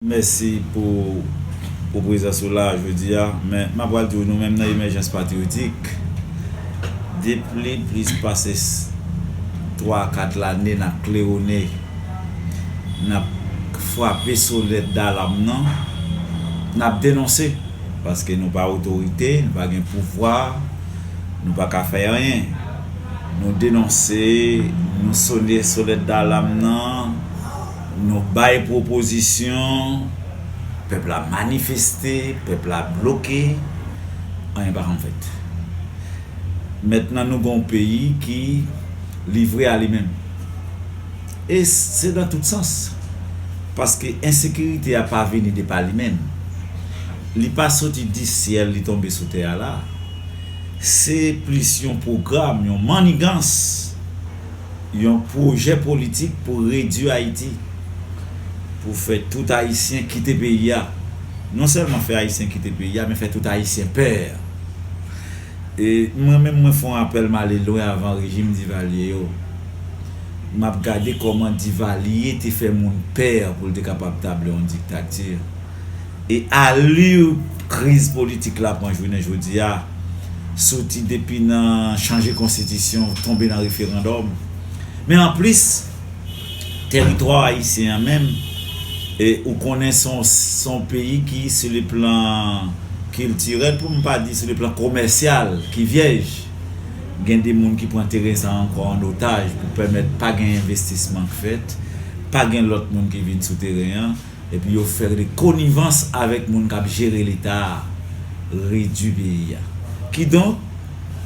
Mèsi pou pou prezans ou la a jodi a. Men, m a pral di ou nou menm nan Emèjans Patriyotik, depli plis pase twa a kat lane n ap klewone, n ap frape sonèt dalam nan, n ap denonse. Paske nou pa otorite, nou pa gen pouvwa, nou pa ka fè anyen. Nou denonse, nou sone sonèt dalam nan. Nou bay pwopozisyon, pèp la manifeste, pèp la bloke, anyen pa janm fèt. Mentnan nou gen yon peyi ki livre a li menm. E se nan tout sans. Paske ensekirite a pa vini de pa li menm. Li pa soti di syèl li tonbe sou tè a la. Se plis yon pwogram, yon mannigans. Yon pwojè politik pou redui Ayiti, pou fè tout Ayisyen kite peyi a. Non sèlman fè Ayisyen kite peyi a, men fè tout Ayisyen pè. E mwen menm mwen fè yon apèl m ale lwen avan rejim Divalye yo. M ap gade kòman Divalye te fè moun pè pou l te kapab tabli yon diktati. e alur kriz politik la pran jounen jodi a, soti depi nan chanje konstitisyon, tonbe nan referandòm, men anplis teritwa ayisyen an menm e ou konnen se yon peyi ki sou le plan kiltirèl pou m pa di sou le plan komèsyal ki vyèj, gen de moun ki pran teren sa ankò an otaj pou pèmèt pa gen envestisman k fèt, pa gen lòt moun ki vin sou teren an. Epi yo fè rele konivans avèk moun k ap jere Leta a, redui peyi a. Kidonk,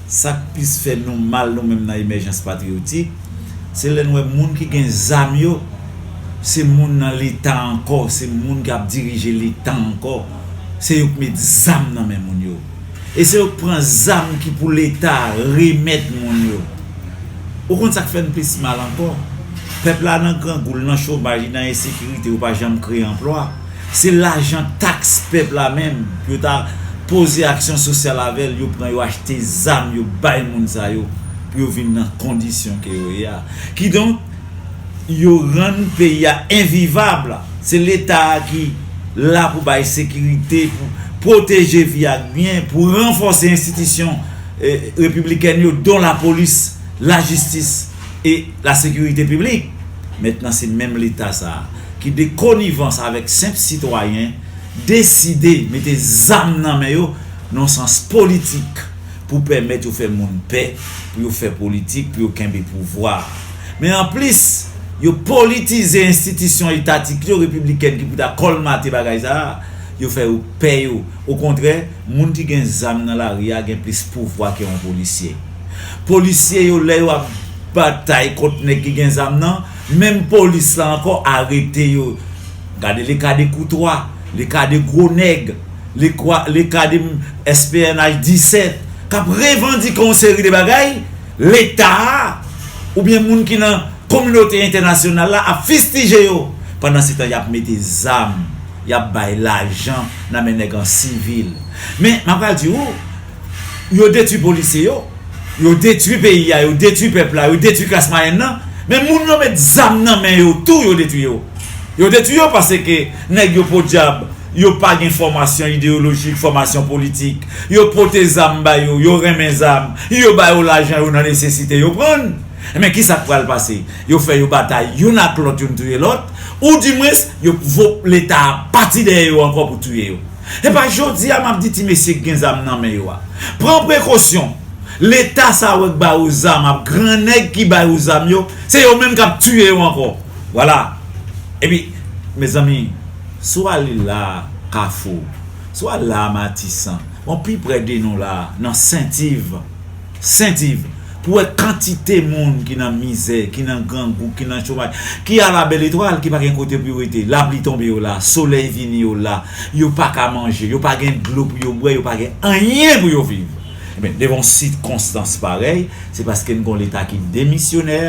sa k plis fè nou mal nou menm nan Emèjans Patriyotik, se lè n wè moun ki gen zam yo, se moun nan Leta ankò, se moun k ap dirije Leta ankò, se yo k met zam nan men moun yo. e se yo k pran zam ki pou leta remèt moun yo ou konn sak fèn plis mal ankò pèp la nan grangou l nan chomaj li nan ensekirite yo pa janm kreye anplwa se lajan taks pèp la menm pou yo ta poze aksyon sosyal avèl yo pran yo achte zam yo bay moun sa yo pou yo vin nan kondisyon ke yo ye a kidonk Yo rann peyi a envivab, se leta ki la pou bay sekirite, pou pwoteje vi ak byen, pou ranfòse enstitisyon repiblikèn yo don lapolis, lajistis e lasekirite piblik. Mentnan se menm leta sa a ki de konivans avèk senp sitwayen deside mete zam nan men yo nan sans politik. pou pèmèt yo fè moun pè, pou yo fè politik, pou yo kenbe pouvwa a. Men anplis, yo politize enstitisyon etatik yo, repiblikèn ki pou ta kòlmate bagay sa a, yo fè yo pè yo. Okontrè, moun ki gen zam nan lari a gen plis pouvwa ke yon polisye. Polisye yo lè yo ap batay kont nèg ki gen zam nan, menm polis la ankò arete yo. Gade le cas de Courtois, le cas de gwo nèg. Lekadem SPNH 17 k ap revandike yon seri de bagay, Leta a oubyen moun ki nan kominote entènasyonal la ap fistije yo, pandansetan y ap mete zam, y ap bay lajan nan men nèg an sivil. Men, m apral di ou. yo detwi polisye yo, yo detwi peyi a, yo detwi pèp la, yo detwi klas mwayèn nan, men moun yo met zam nan men yo tou yo detwi yo. Yo detwi yo paske nèg yo podyab yo pa gen fòmasyon ideyolojik, fòmasyon politik, yo pote zam ba yo, yo renmen zam, yo ba yo lajan yo nan nesesite yo prann. Enben kisa k pral pase? Yo fè yo batay youn ak lòt, youn touye lòt, oudimwens yo leta a pati dèyè yo ankò pou touye yo. Epa jodi a map di ti mesye k gen zam nan men yo a pran prekosyon leta sa wè k ba ou zam ap gran nèg ki bay ou zam yo se yo menm kap tiye yo ankò vwala epi mezanmi si w ale la a kafou si w al la a matisan bon pi prè de nou la a nan sentiv. Sent Iv, pou wè kantite moun ki nan mizè, ki nan grangou, ki nan chomaj, ki a la bèl etwal, ki pa gen kote pou yo rete, lapli tonbe yo la, solèy vini yo la, yo pa ka manje, yo pa gen dlo pou yo bwè, yo pa gen anyen pou yo viv. Enben, devan yon sikonstans parèy, se paske n gon Leta ki demisyonè,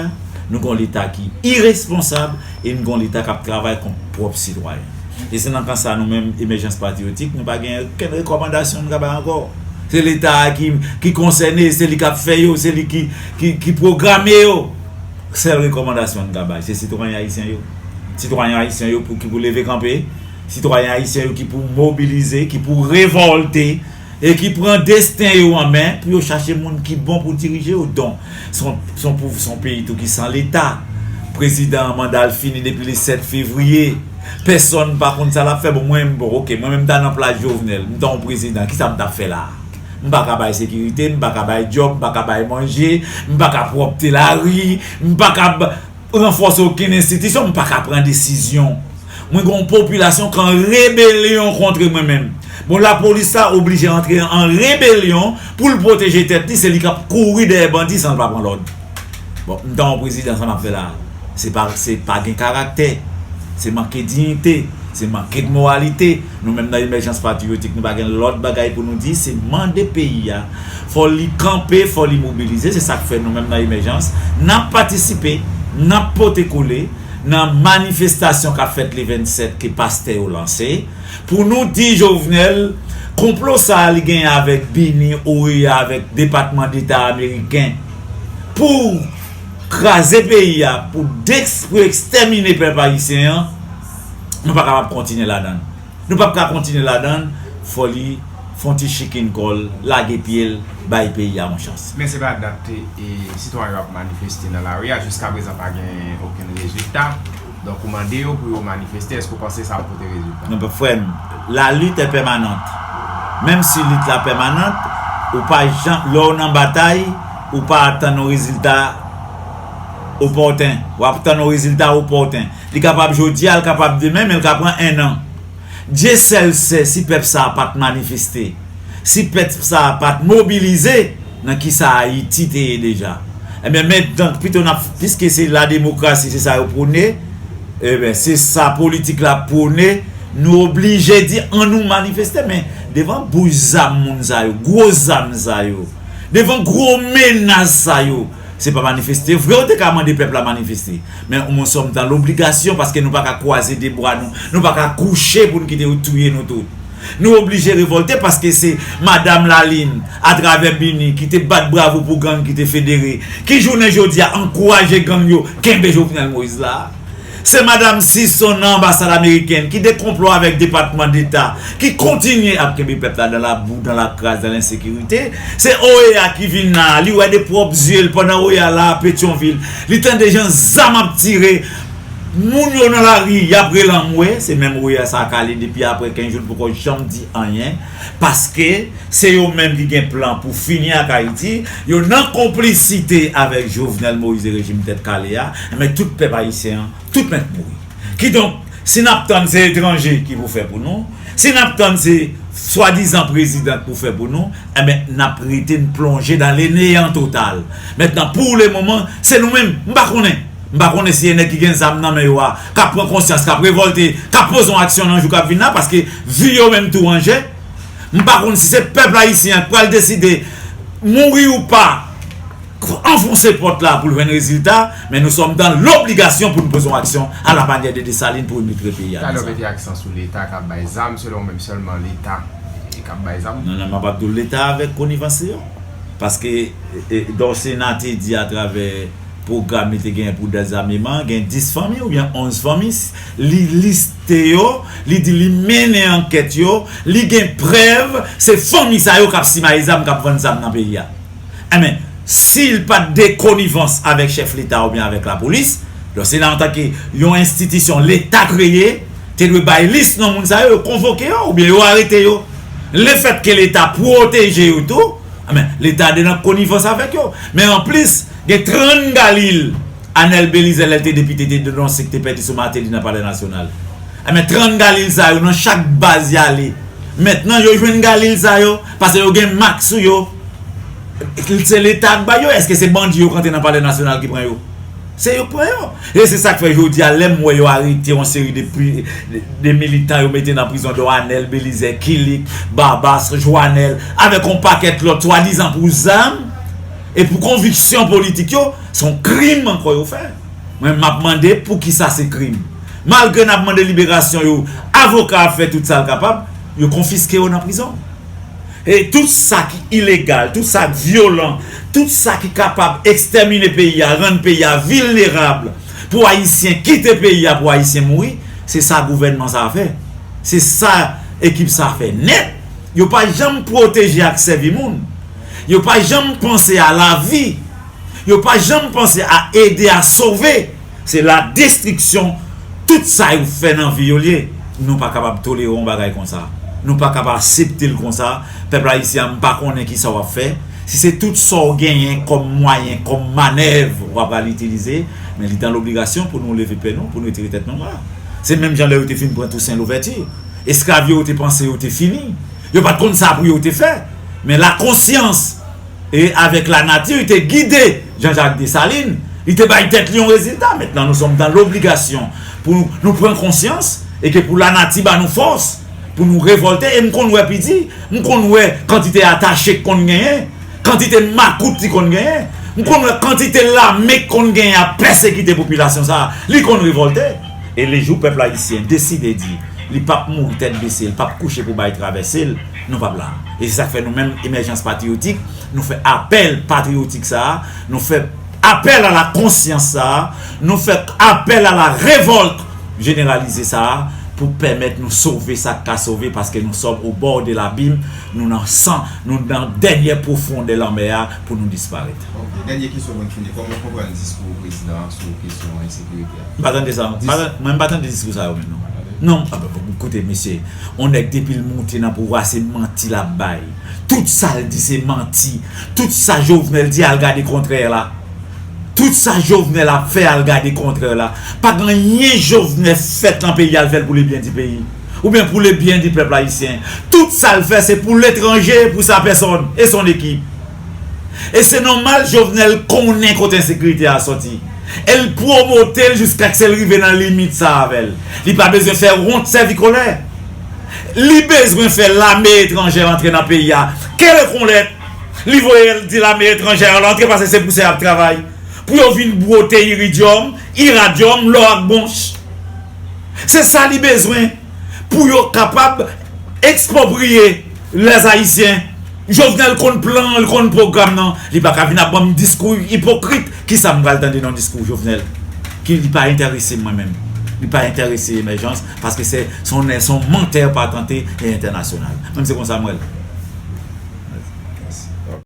nou gon Leta ki iresponsab e n gon Leta k ap travay kont pwòp sitwayen l. E se nan kan sa nou menm Emèjans Patriyotik nou pa gen okenn rekòmandasyon nou ka bay ankò. Se Leta a ki konsène, se li k ap fè yo, se li ki pwograme yo. Sèl rekòmandasyon nou ka bay se sitwayen ayisyen yo. Sitwayen ayisyen yo ki pou leve kanpe, sitwayen ayisyen yo ki pou mobilize, ki pou revòlte e ki pran desten yo an men pou yo chache moun ki bon pou dirije yo donk se yon pou se yon peyi tou ki san leta prezidan an manda l fini depi le 7 fevriye pèsòn pa konn sa l ap fè bon mwen bon ok mwen menm m ta nan plas Jovenel m ta yon prezidan kisa m t ap fè la a m pa ka bay sekirite m pa ka bay djòb m pa ka bay manje m pa ka pwòpte lari m pa ka Ranfòse okenn enstitisyon, m pa ka pran desizyon. Mwen gen yon popilasyon ki an rebelyon kontre mwen menm. Bon lapolis la oblije antre an rebelyon pou l pwoteje tèt li, se li k ap kouri dèyè bandi san l pa pran lòd. Bon, m ta yon prezidan sa m ap fè la a? Se pa se pa gen karaktè, se manke diyite, se manke de moralite. Nou menm nan Emèjans Patriyotik nou pa gen lòt bagay pou nou di, se mande peyi a fò li kanpe, fò li mobilize, se sa k fè nou menm nan Emèjans n ap patisipe, n ap pote kole nan manifestasyon k ap fèt le 27 ke pastè yo lanse pou nou di Jovenel konplo sa a li genyen avèk bini, OEA avèk Depatman Deta Ameriken pou kraze peyi a pou ekstèmine pèp ayisyen an. nou pa kapab kontinye ladan l. Nou pap ka kontinye ladan l, fò li fon ti chikin kò l, lage pye l, bay peyi a yon chans. Men se pa dat sitwayen yo ap manifeste nan lari a, jiska prezan pa gen okenn rezilta, donk ou mande yo pou yo manifeste, èske ou panse sa ap pote rezilta? Non frè m, la lit è pèmanant. Menm si lit la pèmanant, ou pa janm, lè w nan batay, ou pa atann yon rezilta opòten, w ap tann yon rezilta opòten. Li kapab jodia, l kapab demen men l ka pran 1 an. Dye sèl sè si pèp sa a pa t manifeste, si pèp sa a pa t mobilize nan kisa Ayiti te ye deja. Enben men donk pito n ap piske se la demokrasi se sa yo pwone, enben se sa politik la pwone, nou oblije di an nou manifeste men devan bouch zam moun sa yo, gwo zam sa yo, devan gwo menas sa yo, Se pa manifeste vre ou te ka mande pèp la manifeste. Men ou moun sòm dan lobligasyon paske nou pa ka kwaze de bwa nou, nou pa ka kouche pou n kite yo touye nou tout. Nou oblije revòlte paske se Madam Lalin atravè BINUH ki te bat bravo pou gang ki te federe, ki jounen jodi a ankouraje gang yo kenbe Jovenel Moïse la. Se Madam Sison nan anbasad amerikèn ki de konplo avèk depatman deta ki kontinye ap kenbe pèp la dan labou, dan lakras, dan lensekirite. Se OEA ki vin la a, li wè de pwòp zye l pandan OEA la a Petyonvil, li tande jan zam ap tire moun yo nan lari y ap rele anmwe. Se menm OEA sa a k ale depi aprè 15 jou l poko janm di anyen. Paske se yo menm ki gen plan pou fini ak Ayiti, yo nan konplisite avèk Jovenel Moïse e rejim tèt kale a, enben tout pèp ayisyen an, tout mèt mouri. Kidonk, si n ap tann se etranje ki pou fè pou nou, si n ap tann se swadizan prezidan k pou fè pou nou, enben n ap rete n plonje dan le neyan total. Mentnan pou le moman, se nou menm, m pa konnen! M pa konnen si e nèg ki gen zam nan men yo a k ap pran konsyans, k ap revòlte, k ap poze yon aksyon nan jou k ap vin la paske vi yo menm tou an je. M pa konn si se pèp ayisyen an k pral deside mouri ou pa anfonse pòt la pou l jwenn rezilta men nou sòm dan lobligasyon pou n poze yon aksyon a la manyè de Desalin pou remitre peyi a nan zam. Non non m ap ap di w leta avèk konivans li yo paske Dorcéna te di atravè pwogram li te genyen pou dezameman, gen 10 fanmi oubyen 11 fanmi, li liste yo, li di li mennen ankèt yo, li gen prèv se fanmi sa yo k ap simaye zam, k ap vann zam nan peyi a. Enben, si l pa t de konivans avèk chèf leta oubyen avèk lapolis, donk se nan antanke yon enstitisyon leta kreye, te dwe bay lis non moun sa yo, yo konvoke yo oubyen yo arete yo. Lefètke leta pwoteje yo tou, enben, leta de nan konivans avèk yo. Men anplis. Gen trann galil Anel Belize lè l te depite te denonse ki te pèdi sou Martelly nan palè nasyonal enben trann galil sa yo nan chak baz yale mentnan yo jwenn galil sa yo pase yo gen mak sou yo se leta k bay yo eske se bandi yo k antre nan palè nasyonal ki pran yo se yo k pran yo e se sak fè jodia lèm wè yo arete yon seri de militan yo mete nan prizon don Anel Belize Kilik Babas Jwanel avèk yon pakèt lòt swadizan pou zam e pou konviksyon politik yo, se yon krim ankò yo fè. Mwen map mande poukisa se krim? Malgre nap mande liberasyon yo, avoka ap fè tout sa l kapab, yo konfiske yo nan prizon. E tout sa ki ilegal, tout sa k vyolan, tout sa ki kapab ekstèmine peyi a, rann peyi a vilnerab pou ayisyen kite peyi a pou ayisyen mouri, se sa gouvènman sa fè. Se sa ekip sa fè nèt. Yo pa janm pwoteje ak sèvi moun. Yo pa janm panse a lavi. Yo pa janm panse a ede a sove. Se la destriksyon tout sa yo fè nan vi yo liye. Nou pa kapab tolere yon bagay konsa. Nou pa kab asepte l konsa. Pèp ayisyen an m pa konnen kisa w ap fè. Si se tout sa w genyen kòm mwayen, kòm manèv w apral itilize, men li dan lobligasyon pou nou leve pè nou, pou nou retire tèt nou anba. Se menm jan lè yo te fin pran Tousen Louvèti. Esklav yo te panse yo te fini. Yo pa t konn sa pou yo te fè, men lakonsyans e avèk lanati te gide Janjak Desalin, li te bay tèt li yon rezilta, Maintenant nous sommes dans l'obligation pou nou pran konsyans e ke pou lanati ba nou fòs pou nou revòlte, e m konn wè pidi, m konn wè kantite atache k konn genyen, kantite makout li konn genyen, m konn wè kantite lame k konn genyen ap pèsekite popilasyon sa a, li konn revòlte. E le jou pèp ayisyen deside di li p ap mouri tèt bese, li p ap kouche pou bay travèse l, nou p ap la. E se sa k fè nou menm Emèjans Patriyotik, nou fè apèl patriyotik sa a, nou fè apèl a la konsyans sa a, nou fè apèl a la revòlt jeneralize sa a pou pèmèt nou sove sa k ka sove paske nou sòm o bò de labim, nou nan san, nou nan dènyè pwofondè lanmè a pou nou disparèt. Ok, dènye kesyon pou n fini. Kòman w konprann diskou prezidan an sou kesyon ensekirite a? M pa tande sa. Mwen m pa tande diskou sa yo menm non. Non, koute mesye, on nèg depi l moute nan pouvwa se manti l ap bay. Tout sa l di se manti. Tout sa Jovenel di al gade kontrè la. Tout sa Jovenel ap fè al gade kontrè la. Pa gen anyen Jovenel fèt lan peyi a l fè l pou lebyen di peyi. Oubyen pou lebyen di pèp ayisyen. Tout sa l fè se pou letranje e pou sa pèsòn e son ekip. E se nòmal Jovenel konnen kote ensekirite a sòti. E l pwomote l jiskaske l rive nan limit sa avè l. Li pa bezwen fè wont sèvi kolè. Li bezwen fè lame etranjè antre nan peyi a. Kelekonlè li voye l di lame etranjè al antre pase se pou sa y ap travay. Pou yo vin bwote iridyòm, iradyòm, lò ak bwonch. Se sa li bezwen pou yo kapab ekspwopriye. Les haïtiens Jovenel konn plan an li konn pwogram nan li paka vin ap banm diskou ipokrit kisa m pral tande nan diskou Jovenel ki li pa entèrese m mwen menm li pa entèrese emèjans paske se son mantè patante e entènasyonal mwen se konsa m wè l.